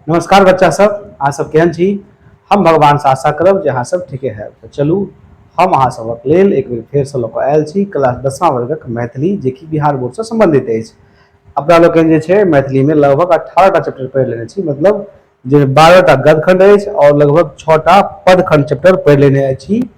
नमस्कार बच्चा सब अहाँ सब केहन छी हम भगवान से आशा करब जे अहाँ सब ठीके है तो चलू हम अहाँ सबक लेल एक बेर फेर से लऽ कऽ आयल छी क्लास दसमा वर्गक मैथिली जे कि बिहार बोर्ड से संबंधित अछि अपना लोकनि जे छै मैथिलीमे लगभग अठारहटा चैप्टर पढ़ि लेने छी मतलब जे बारहटा गदखंड अछि आओर लगभग छओटा पदखंड चैप्टर पढ़ि लेने अछि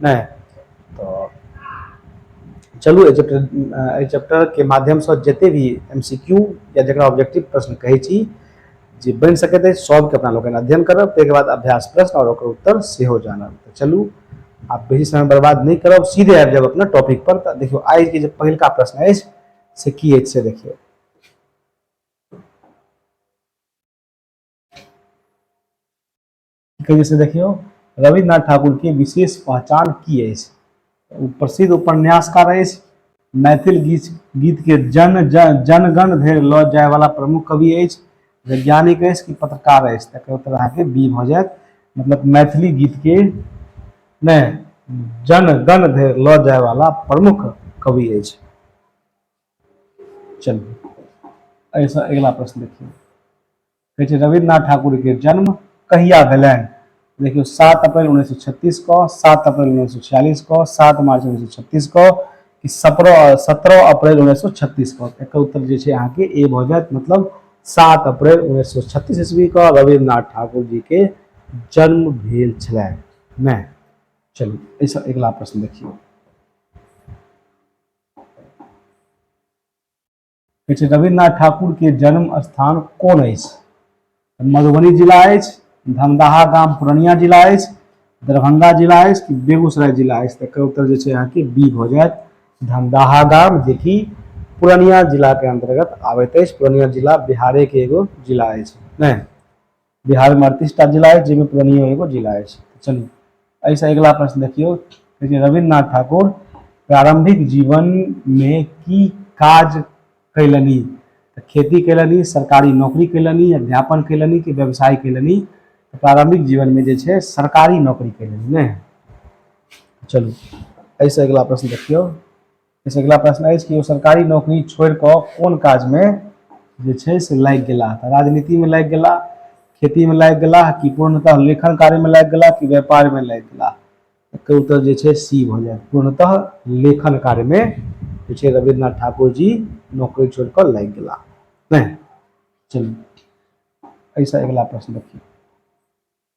नहि तऽ चलू एहि चैप्टर एहि चैप्टरके माध्यमसँ जतेक भी एम सी क्यू या जकरा ऑब्जेक्टिव प्रश्न कहै छी जे बनि सकैत अछि सभके अपना लोकनि अध्ययन करब ताहिके बाद अभ्यास प्रश्न आओर ओकर उत्तर सेहो जानब तऽ चलू आब बेसी समय बर्बाद नहि करब सीधे आबि जायब अपना टॉपिक पर तऽ देखियौ आइके जे पहिलका प्रश्न अछि से की अछि से देखियौ के जैसे देखियो रविन्द्रनाथ ठाकुर के विशेष पहचान की है प्रसिद्ध उपन्यासकार है मैथिल गीत गीत के जन जन जनगण धरि लऽ जाय वाला प्रमुख कवि है वैज्ञानिक है कि पत्रकार है तक उत्तर अहाँके बी भऽ जायत मतलब मैथिली गीत के ने जन गण धरि लऽ जाय वाला प्रमुख कवि है चलिए ऐसा अगला प्रश्न देखिए कहै छै रविन्द्रनाथ ठाकुरके जन्म कहिया भेलनि देखियौ सात अप्रैल उन्नैस सए छत्तीस कऽ सात अप्रैल उन्नैस सए छियालिस कऽ सात मार्च उन्नैस सए छत्तीस कऽ कि सत्रह सत्रह अप्रैल उन्नैस सए छत्तीस कऽ एकर उत्तर जे छै अहाँके ए भऽ जायत मतलब सात अप्रैल उन्नैस सए छत्तीस ईस्वी कऽ रविन्द्रनाथ ठाकुर जी के जन्म भेल छलनि नहि चलू एहिसँ अगिला प्रश्न देखियौ कहै छै रविन्द्रनाथ ठाकुरके जन्म स्थान कोन अछि मधुबनी जिला अछि धमदाहा गाम पूर्णिया जिला अछि दरभंगा जिला अछि कि बेगूसराय जिला अछि तकर उत्तर जे छै अहाँके बी भऽ जायत धमदाहा गाम जेकि पूर्णिया जिलाके अंतर्गत आबैत अछि पूर्णिया जिला बिहारेके एगो जिला अछि नहि बिहार में अड़तीस टा जिला अछि जाहिमे पूर्णियो एगो जिला अछि चलू एहिसँ अगिला प्रश्न देखियौ रविन्द्रनाथ ठाकुर प्रारंभिक जीवन में की काज कैलनि खेती कैलनि सरकारी नौकरी कैलनि अध्यापन कैलनि कि व्यवसाय कैलनि प्रारंभिक जीवन में जे छै सरकारी नौकरी कैलनि ने चलू एहिसँ अगिला प्रश्न देखियौ एहिसँ अगिला प्रश्न अछि कि ओ सरकारी नौकरी छोड़ि कऽ कोन काजमे जे छै से लागि गेलाह तऽ राजनीतिमे लागि गेलाह खेतीमे लागि गेलाह कि पूर्णतः लेखन कार्यमे लागि गेलाह कि व्यापारमे लागि गेलाह एकर उत्तर जे छै सी भऽ जायत पूर्णतः लेखन कार्यमे जे छै रविन्द्रनाथ ठाकुर जी नौकरी छोड़ि कऽ लागि गेलाह नहि चलू एहिसँ अगिला प्रश्न देखियौ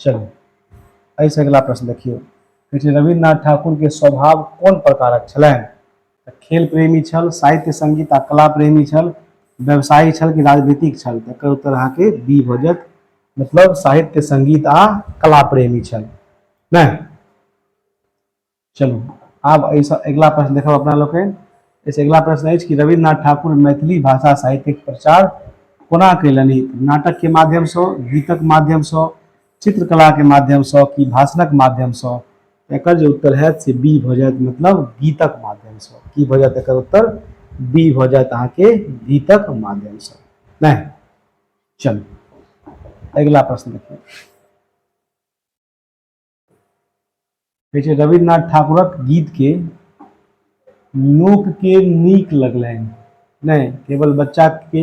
चलू एहिसँ अगिला प्रश्न देखियौ कहै छै रविन्द्रनाथ ठाकुरके स्वभाव कोन प्रकारक छलनि तऽ खेल प्रेमी छल साहित्य संगीत आ कला प्रेमी छल व्यवसायी छल कि राजनीतिक छल एकर उत्तर अहाँके बी भऽ जायत मतलब साहित्य संगीत आ कला प्रेमी छल नहि चलू आब एहिसँ अगिला प्रश्न देखब अपना लोकनि एहिसँ अगिला प्रश्न अछि कि रविन्द्रनाथ ठाकुर मैथिली भाषा साहित्यक प्रचार कोना कयलनि नाटकके माध्यमसँ गीतक माध्यमसँ चित्रकलाके माध्यमसँ कि भाषणक माध्यमसँ एकर जे उत्तर हैत से बी भऽ जायत मतलब गीतक माध्यमसँ की भऽ जायत एकर उत्तर बी भऽ जायत अहाँके गीतक माध्यमसँ नहि चलू अगिला प्रश्न देखियौ कहै छै रविन्द्रनाथ ठाकुरक गीतके लोकके नीक लगलनि नहि केवल बच्चाके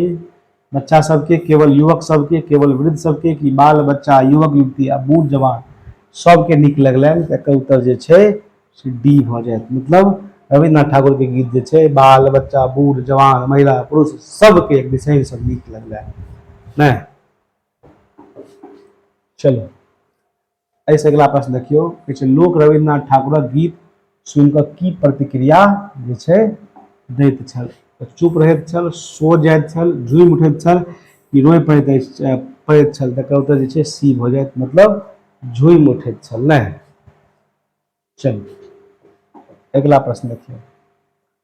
बच्चा सबके केवल युवक सबके केवल वृद्ध सबके कि बाल बच्चा युवक युवती आ बूढ़ जवान सबके नीक लगलनि तऽ एकर उत्तर जे छै से डी भऽ जायत मतलब रविन्द्रनाथ ठाकुरके गीत जे छै बाल बच्चा बूढ़ जवान महिला पुरुष सबके एक विशेषसँ नीक लगलनि नहि चलू एहिसँ अगिला प्रश्न देखियौ कहै छै लोक रविन्द्रनाथ ठाकुरक गीत सुनि कऽ की प्रतिक्रिया जे छै दैत छल तऽ चुप रहैत छल सो जाइत छल झूमि उठैत छल कि रोए पड़ैत अछि पड़ैत छल तकर उत्तर जे छै सी भऽ जायत मतलब झूमि उठैत छल नहि चलू अगिला प्रश्न देखियौ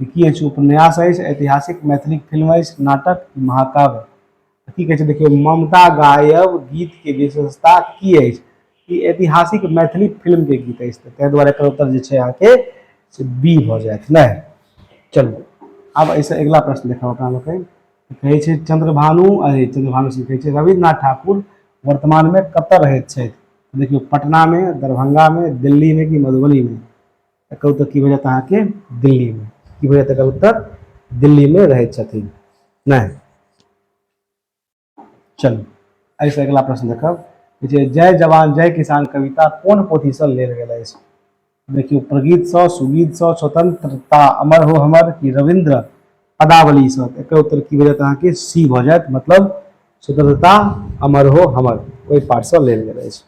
की अछि उपन्यास अछि ऐतिहासिक मैथिली फिल्म अछि नाटक महाकाव्य की कहै छै देखियौ ममता गायब गीतके विशेषता की अछि ई ऐतिहासिक मैथिली फिल्मके गीत अछि तऽ ताहि दुआरे एकर उत्तर जे छै अहाँके से बी भऽ जायत नहि चलू आब एहिसँ अगिला प्रश्न देखब अपना लोकनि कहै छै चंद्रभानु अरे चंद्रभानु सिंह कहै छै रविन्द्रनाथ ठाकुर वर्तमानमे कतय रहैत छथि देखियौ पटनामे दरभंगामे दिल्लीमे कि मधुबनीमे एकर उत्तर की भऽ जायत अहाँके दिल्लीमे की भऽ जायत एकर उत्तर दिल्लीमे रहै छथिन नहि चलू एहिसँ अगिला प्रश्न देखब जे जय जवान जय किसान कविता कोन पोथीसँ लेल गेल अछि देखियौ प्रगीतसँ सुगीतसँ स्वतंत्रता अमर हो हमर कि रविन्द्र पदावलीसँ एकर उत्तर की भऽ जायत अहाँके सी भऽ जायत मतलब स्वतंत्रता अमर हो हमर ओहि पाठसँ लेल गेल अछि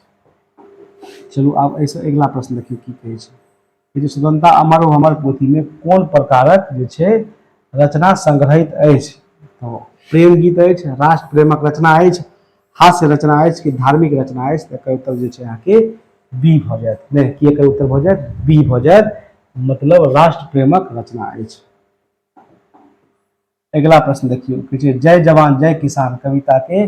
चलू आब एहिसँ अगिला प्रश्न देखियौ की कहै छै ई जे स्वतंत्रता अमर ओ हमर पोथीमे कोन प्रकारक जे छै रचना संग्रहित अछि तऽ प्रेम गीत अछि राष्ट्र प्रेमक रचना अछि हास्य रचना अछि कि धार्मिक रचना अछि तऽ एकर उत्तर जे छै अहाँके बी भऽ जायत नहि कि एकर उत्तर भऽ जायत बी भऽ जायत मतलब राष्ट्र प्रेमक रचना अछि अगिला प्रश्न देखियौ कहै छै जय जवान जय किसान कविताके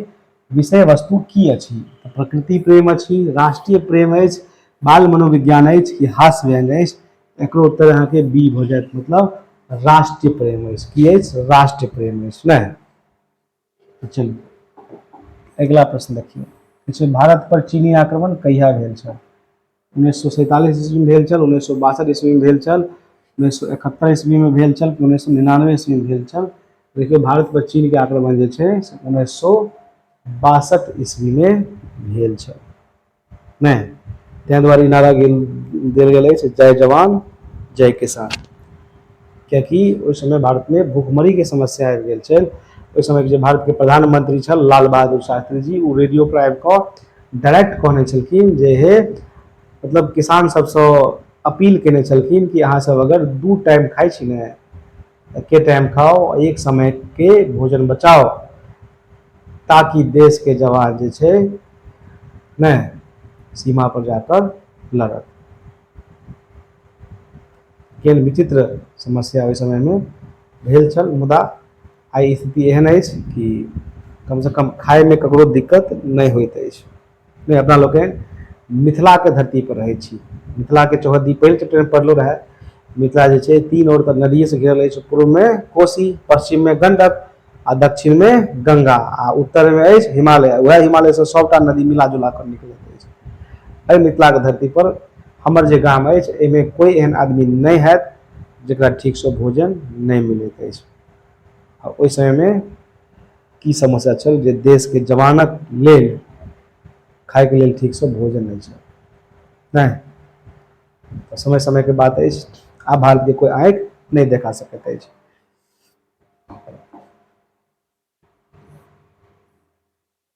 विषय वस्तु की अछि तऽ प्रकृति प्रेम अछि राष्ट्रीय प्रेम अछि बाल मनोविज्ञान अछि कि हास्य व्यंग अछि एकरो उत्तर अहाँके बी भऽ जायत मतलब राष्ट्रीय प्रेम अछि की अछि राष्ट्रीय प्रेम अछि नहि तऽ चलू अगिला प्रश्न देखियौ कहै छै भारत पर चीनी आक्रमण कहिया भेल छल उन्नैस सए सैंतालिस ईस्वीमे भेल छल उन्नैस सए बासठि ईस्वीमे भेल छल उन्नैस सए एकहत्तरि ईस्वीमे भेल छल उन्नैस सए निनानबे ईस्वीमे भेल छल लेकिन भारतपर चीनके आक्रमण जे छै से उन्नैस सए बासठि ईस्वीमे भेल छल नहि ताहि दुआरे ई नारा गेल देल गेल अछि जय जवान जय किसान किएकि ओहि समय भारतमे भुखमरीके समस्या आबि गेल छल ओहि समयके जे भारतके प्रधानमंत्री छल लाल बहादुर शास्त्री जी ओ रेडियोपर आबि कऽ डाइरेक्ट कहने छलखिन जे हे मतलब किसान सबसँ अपील केने छलखिन कि अहाँ सब अगर दू टाइम खाइ छी ने एके टाइम खाओ एक समय के भोजन बचाओ ताकि देश के जवान जे छै ने सीमा पर जाकर लड़त केहन विचित्र समस्या ओहि समय में भेल छल मुदा आइ स्थिति एहन अछि कि कमसँ कम खाइमे ककरो दिक्कत नहि होइत अछि नहि अपना लोकनि मिथिलाके धरतीपर रहै छी मिथिलाके चौहद्दी पहिल चैप्टरमे पढ़लहुँ रहए मिथिला जे छै तीन ओर तऽ नदिएसँ घेरल अछि पूर्वमे कोशी पश्चिममे गण्डक आ दक्षिणमे गङ्गा आ उत्तरमे अछि हिमालय उएह हिमालयसँ सभटा नदी मिला जुला कऽ निकलैत अछि एहि मिथिलाके धरतीपर हमर जे गाम अछि एहिमे कोइ एहन आदमी नहि हएत जकरा ठीकसँ भोजन नहि मिलैत अछि आ ओहि समयमे की समस्या छल जे देशके जवानक लेल खायके लेल ठीकसँ भोजन नहि छल नहि तऽ समय समयके बात अछि आब भारतके कोइ आँखि नहि देखा सकैत अछि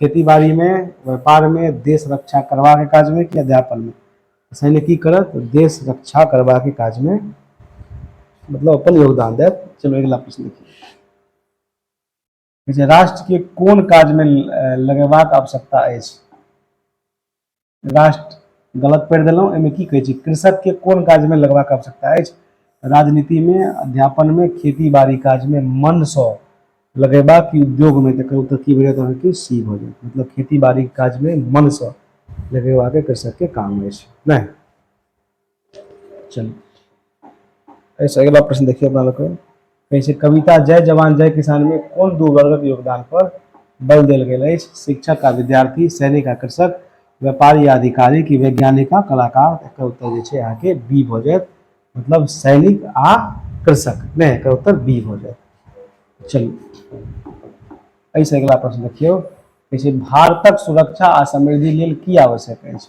खेतीबाड़ी मे व्यापार मे देश रक्षा करबा के काज मे की अध्यापन मे सैन्य की करत देश रक्षा करबा के काज मे मतलब अपन योगदान देत चलू अगिला प्रश्न देखियौ राष्ट्र के कोन काज मे लगेबाक आवश्यकता अछि राष्ट्र गलत पढ़ि देलहुँ एहिमे की कहै छी कृषकके कोन काजमे लगबाक आवश्यकता अछि राजनीतिमे अध्यापनमे खेती बाड़ी काजमे मनसँ लगेबाक उद्योगमे तकर उत्तर की भेलै अहाँके सी भऽ जायत मतलब खेती बाड़ी काजमे मनसँ लगेबाके कृषकके काम अछि नहि चलू एहिसँ अगिला प्रश्न देखिए अपना लोग कहै छै कविता जय जवान जय किसान में कौन दू वर्गक योगदान पर बल देल गेल अछि शिक्षक आ विद्यार्थी सैनिक आ कृषक व्यापारी आ अधिकारी की वैज्ञानिक आ कलाकार एकर उत्तर जे छै अहाँके बी भऽ जायत मतलब सैनिक आ कृषक नहि एकर उत्तर बी भऽ जायत चलू एहिसँ अगिला प्रश्न देखियौ कहै छै भारतक सुरक्षा आ समृद्धि लेल की आवश्यक अछि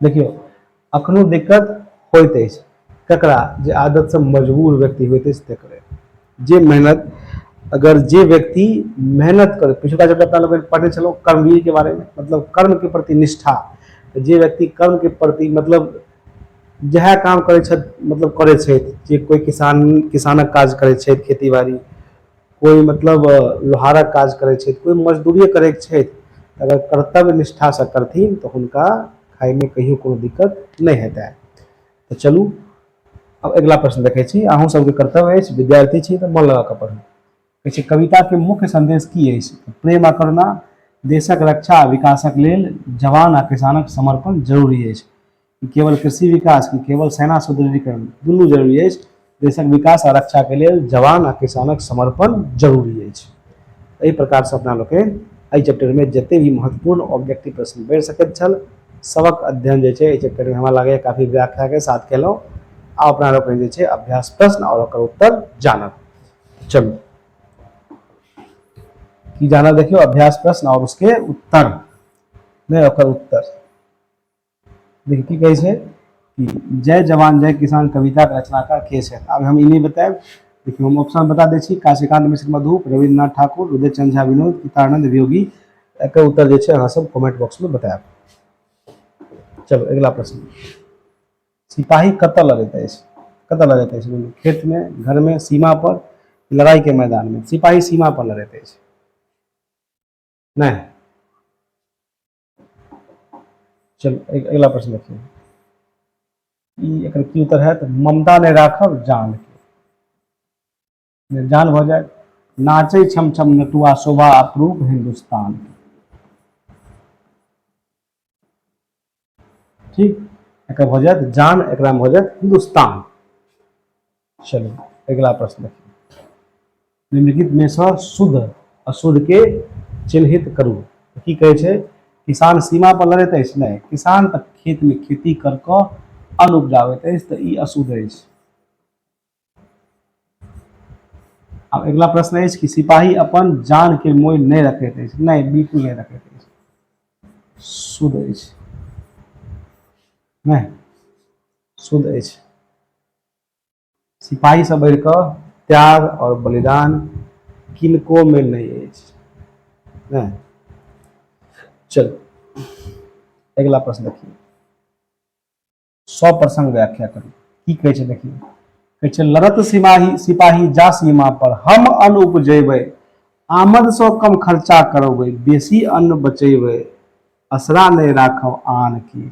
देखियौ अखनो दिक्कत होइत अछि ककरा जे आदतसँ मजबूर व्यक्ति होइत अछि तकरे जे मेहनत अगर जे व्यक्ति मेहनत करे पिछुका जब अपना लोग पढ़ने छलहुँ कर्मवीर के बारे में मतलब कर्म के प्रति निष्ठा तो जे व्यक्ति कर्म के प्रति मतलब जह काम करे मतलब करे जे कोई किसान किसानक काज करे खेती बाड़ी कोइ मतलब लोहारक काज करै छथि कोइ मजदूरिये करैत छथि अगर कर्तव्य निष्ठासँ करथिन तऽ हुनका खाइमे कहियो कोनो दिक्कत नहि हेतनि तऽ चलू आब अगिला प्रश्न देखै छी अहूँ सबके कर्तव्य अछि विद्यार्थी छी तऽ मन लगा कऽ पढ़ू कहै छै कविताके मुख्य संदेश की अछि प्रेम आ करुणा देशक रक्षा आ विकासक लेल जवान आ किसानक समर्पण जरूरी अछि केवल कृषि विकास की केवल सेना सुदृढ़ीकरण दुनू जरूरी अछि देशक विकास आ रक्षा के लेल जवान आ किसानक समर्पण जरूरी अछि एहि प्रकार से अपना लोकनि एहि चैप्टर में जते भी महत्वपूर्ण ऑब्जेक्टिव प्रश्न बढ़ि सकैत छल सबक अध्ययन जे छै एहि चैप्टर में हमरा लगैए काफी व्याख्या के साथ केलहुँ आ अपना लोकनि जे छै अभ्यास प्रश्न और ओकर उत्तर जानब चलू की जानब देखियो अभ्यास प्रश्न और उसके उत्तर नहीं ओकर उत्तर देखिए की कहै छै कि जय जवान जय किसान कविता के रचनाकार के छै आब हम ई नहि बतायब देखियौ हम ऑप्शन बता दै छी काशीकांत मिश्र मधुप रविन्द्रनाथ ठाकुर उदय चंद झा विनोद पितानंद वियोगी एकर उत्तर जे छै अहाँ सब कमेंट बॉक्स में बतायब चलो अगला प्रश्न सिपाही कत लगैत अछि कत लगैत अछि खेत में घर में सीमा पर लड़ाई के मैदान में सिपाही सीमा पर लड़ैत अछि नहीं चलू अगिला प्रश्न देखियौ ई एकर की उत्तर हैत ममता नहि राखब जान के जान भऽ जायत नाचे छम छम नटुआ शोभा अप्रूप हिंदुस्तान के ठीक एक भऽ जायत जान एक भऽ जायत हिंदुस्तान चलू अगिला प्रश्न देखियौ निम्नलिखित में से शुद्ध अशुद्ध के चिन्हित करू की कहे छै किसान सीमा पर लड़ैत अछि नहि किसान तऽ खेत में खेती कर कऽ अन्न उपजाबैत अछि तऽ ई अशुद्ध अछि आब अगिला प्रश्न अछि कि सिपाही अपन जान के मोल नहि रखैत अछि नहि बिल्कुल नहि रखैत अछि शुद्ध अछि नहि शुद्ध अछि सिपाही से बढ़ि कऽ त्याग आओर बलिदान किनको में नहि अछि नहि चल अगिला प्रश्न देखिए सौ प्रसंग व्याख्या करू की कहै छै देखिए कहै छै लड़त सिपाही सिपाही जा सीमा पर हम अन्न उपजेबै आमद से कम खर्चा करबै बेसी अन्न बचेबै असरा नहि राखब आन की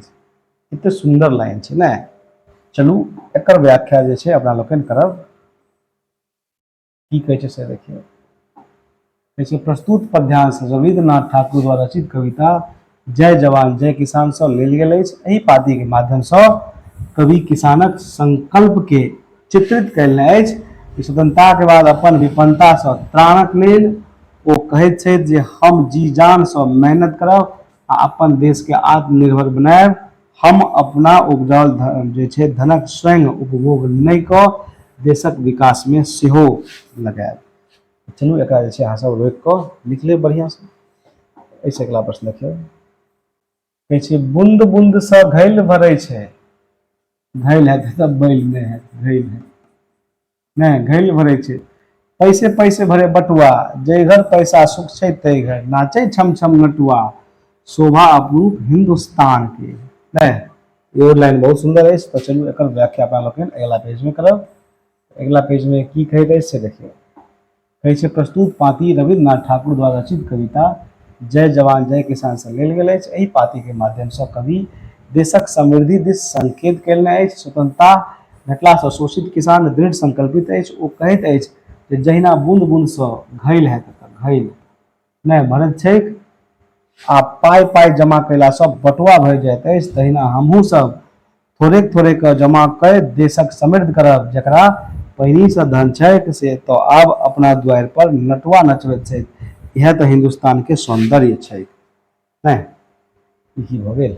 एते सुंदर लाइन छै ने चलू एकर व्याख्या जे छै अपना लोकनि करब की कहै छै से देखियौ कहै छै प्रस्तुत पद्यांश रविन्द्रनाथ ठाकुर द्वारा रचित कविता जय जवान जय किसान सँ लेल गेल अछि एहि पाती के माध्यम सँ कवि किसानक संकल्प के चित्रित कयलनि अछि कि स्वतंत्रता के बाद अपन विपन्नता सँ त्राणक लेल ओ कहैत छथि जे हम जी जान सँ मेहनत करब आ अपन देश के आत्मनिर्भर बनायब। हम अपना उपजाओल जे छै धनक स्वयं उपभोग नहि कऽ देशक विकास मे सेहो लगायब। चलू एकरा जे छै अहाँ सब रोकि कऽ लिख लेब बढ़ियाँ सँ। एहि सँ अगिला प्रश्न देखियौ। कहै छै बुन्द बुन्द सँ घैल भरै छै। घैल हेतै तऽ बैल नहि हेतै। घैल हेतै। नहि घैल भरै छै पैसे पैसे भरे बटुआ जय घर पैसा सुख छै तय घर नाचे छम छम नटुआ शोभा अपरूप हिंदुस्तान के नहि यो लाइन बहुत सुंदर है तो चलू एक व्याख्या अपना लोग अगला पेज में करब अगला पेज में की कहते से देखिए कहै छै प्रस्तुत पाती रविन्द्रनाथ ठाकुर द्वारा रचित कविता जय जवान जय किसान से लेल गेल अछि एहि पातीके माध्यमसँ कवि देशक समृद्धि दिस संकेत कयलनि अछि स्वतंत्रता भेटलासँ शोषित किसान दृढ़ संकल्पित अछि ओ कहैत अछि जे जहिना बूंद बूंदसँ घैल हैत घैल नहि भरैत छैक आ पाइ पाइ जमा कयलासँ बटुआ भए जाइत अछि तहिना हमहूँ सब थोड़ेक थोड़ेक कऽ जमा कए देशक समृद्ध करब जकरा पहिनहिसँ धन छैक से तऽ आब अपना दुआरि पर नटुआ नचबैत छैक इएह तऽ हिन्दुस्तानके सौन्दर्य छैक नहि ई की भऽ गेल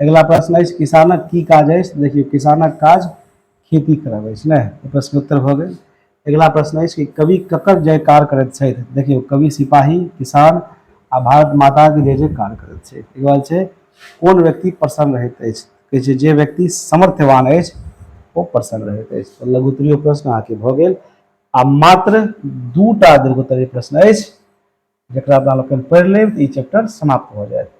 अगिला प्रश्न अछि किसानक की काज अछि देखियौ किसानक काज खेती करब अछि ने प्रश्न उत्तर भऽ गेल अगिला प्रश्न अछि कि कवि ककर जयकार करैत छथि देखियौ कवि सिपाही किसान आ भारत माताके जय जयकार करैत छथि ई बात छै कोन व्यक्ति प्रसन्न रहैत अछि कहै छै जे व्यक्ति समर्थवान अछि ओ प्रसन्न रहैत अछि लघुत्तरीय प्रश्न अहाँके भऽ गेल आ मात्र दूटा दीर्घोत्तरीय प्रश्न अछि जकरा अपना लोग पढ़ि लेब तऽ ई चैप्टर समाप्त भऽ जायत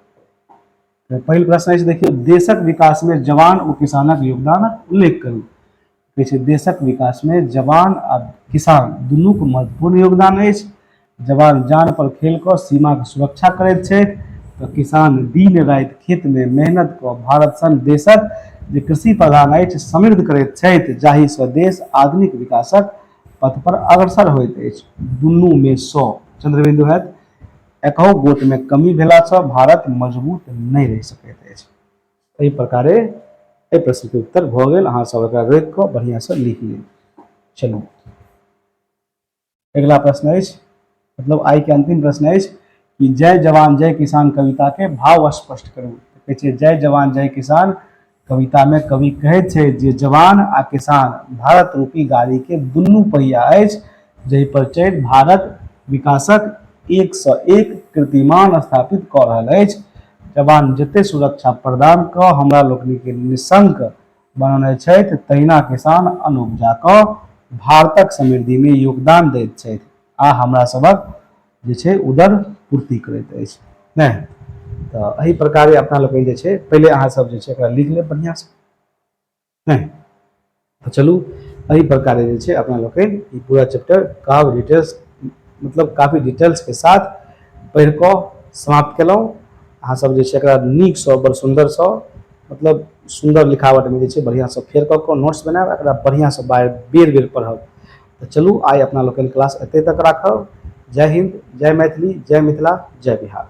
तऽ पहिल प्रश्न अछि देखियौ देशक विकासमे जवान ओ किसानक योगदानक उल्लेख करू कहै छै देशक विकासमे जवान आ किसान दुनूके महत्वपूर्ण योगदान अछि जवान जान पर खेल कऽ सीमाके सुरक्षा करैत छथि तऽ किसान दिन राति खेतमे मेहनत कऽ भारत सन देशक जे कृषि प्रधान अछि समृद्ध करैत छथि जाहिसँ देश आधुनिक विकासक पथ पर अग्रसर होइत अछि। दुनू मे सँ चंद्रबिंदु हएत। एकहु गोट मे कमी भेला सँ भारत मजबूत नहि रहि सकैत अछि। एहि प्रकारे एहि प्रश्न के उत्तर भऽ गेल। अहाँ सब एकरा रोकि कऽ बढ़िया सँ लिख लिअ। चलू अगिला प्रश्न अछि मतलब आइ के अंतिम प्रश्न अछि कि जय जवान जय किसान कविता के भाव स्पष्ट करू कहै छै जय जवान जय किसान कविता में कवि कहै छै जे जवान आ किसान भारत रूपी गाड़ी के दुनू पहिया अछि जहि पर चढ़ि भारत विकासक एक सौ एक कीर्तिमान स्थापित कऽ रहल अछि जवान जते सुरक्षा प्रदान कऽ हमरा लोकनि के निशंक बनौने छथि तहिना किसान अनुपजा कऽ भारतक समृद्धि में योगदान दैत छथि आ हमरा सभक जे छै उदर पूर्ति करैत अछि नहि तऽ एहि प्रकारे अपना लोकनि जे छै पहिले अहाँसभ जे छै एकरा लिख लेब बढ़िआँसँ नहि तऽ चलू एहि प्रकारे जे छै अपना लोकनि ई पूरा चैप्टर काव डिटेल्स मतलब काफी डिटेल्सके साथ पढ़ि कऽ समाप्त केलहुँ अहाँसभ जे छै एकरा नीकसँ बड़ सुन्दरसँ मतलब सुन्दर लिखावटमे जे छै बढ़िआँसँ फेर कऽ कऽ नोट्स बनायब एकरा बढ़िआँसँ बार बेर बेर पढ़ब तऽ चलू आइ अपना लोकनि क्लास एतय तक राखब जय हिन्द जय मैथिली जय मिथिला जय बिहार